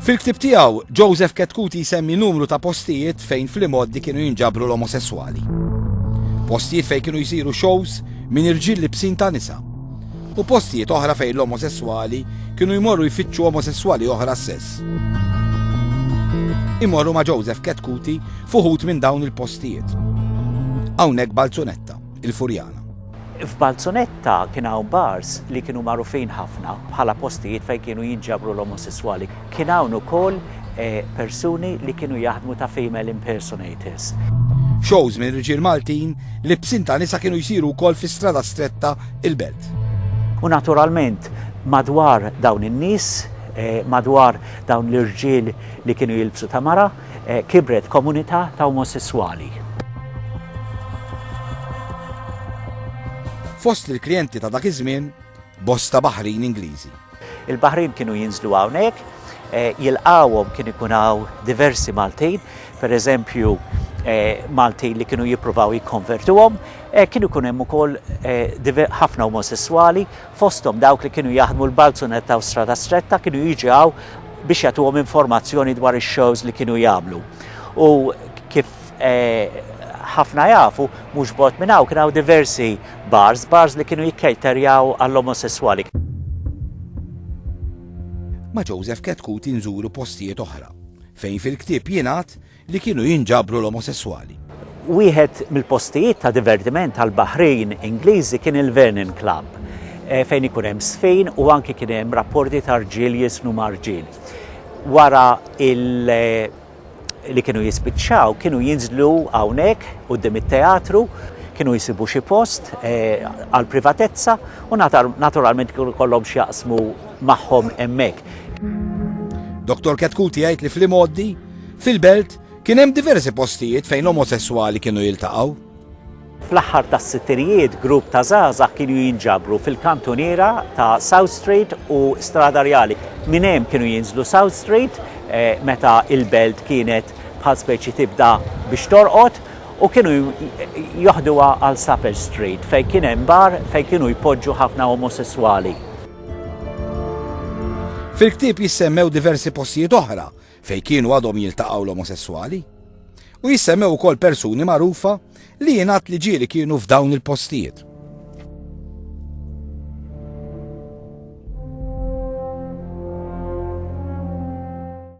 Fil-ktieb tiegħu, Joseph Ketkuti jsemmi numru ta' postijiet fejn fl-imgħoddi kienu jinġabru l-omosesswali. Postijiet fejn kienu jsiru shows minn irġiel libsin ta' nisa. U postijiet oħra fejn l-omosesswali kienu jmorru jfittxu omosesswali oħra stess. Imorru ma' Joseph Ketkuti fuħut minn dawn il-postijiet. Hawnhekk Balzunetta. il-Furjana. F'Balzonetta kien hawn bars li kienu magħrufin ħafna bħala postijiet fejn kienu jinġabru l-omosesswali. Kien hawn ukoll persuni li kienu jaħdmu ta' female impersonators. Shows minn riġiel Maltin li b'sin ta' nisa kienu jsiru wkoll fi Strada Stretta, il-Belt. U naturalment madwar dawn in-nies, madwar dawn l-irġiel li kienu jilbsu ta' mara, kibret komunità ta' omosesswali. Fost il-klijenti ta' dak iż-żmien, bosta baħrin Ingliżi. Il-baħrin kienu jinżlu hawnhekk, jilqgħuhom kien ikun hawn diversi Maltin, pereżempju Maltin li kienu jippruvaw jikkonvertuhom, kien ikun hemm ukoll ħafna omosesswali fosthom dawk li kienu jaħdmu l-Balzunetta u Strada Stretta kienu jiġi hawn biex jagħtuhom informazzjoni dwar ix-shows li kienu jagħmlu. U kif ħafna jafu, mhux bogħod minn hawn kien hawn diversi bars, bars li kienu jikkejterjaw għall-omosesswali. Ma' Joseph Ketkuti nżuru postijiet oħra, fejn fil-ktieb jingħad li kienu jinġabru l-omosesswali. Wieħed mill-postijiet ta' divertiment tal-baħrin Ingliżi kien il-Vernon Club, fejn ikun hemm żfin u anki kien hemm rapporti ta' rġiel jiżfnu ma' rġiel. Wara li kienu jispiċċaw, kienu jinżlu hawnhekk quddiem it-teatru, kienu jsibu xi post għall-privatezza u naturalment kienu jkollhom x'jaqsmu magħhom hemmhekk. Dottor Ketkuti jgħid li fl-imgħoddi, Fil-belt, kien hemm diversi postijiet fejn omosesswali kienu jiltaqgħu. Fl-aħħar tas-sittirijiet grupp ta' żgħażagħ kienu jinġabru fil-kantuniera ta' South Street u Strada Rjali. Minn hemm kienu jinżlu South Street meta l-belt kienet bħal speċi tibda biex torqod u kienu joħduha għal Supper Street fejn kien hemm bar fejn kienu jpoġġu ħafna omosesswali. Fil-ktieb jissemmew diversi postijiet oħra fejn kienu għadhom jiltaqgħu l-omosesswali, u jissemmew ukoll persuni magħrufa li jingħad li ġieli kienu f'dawn il-postijiet.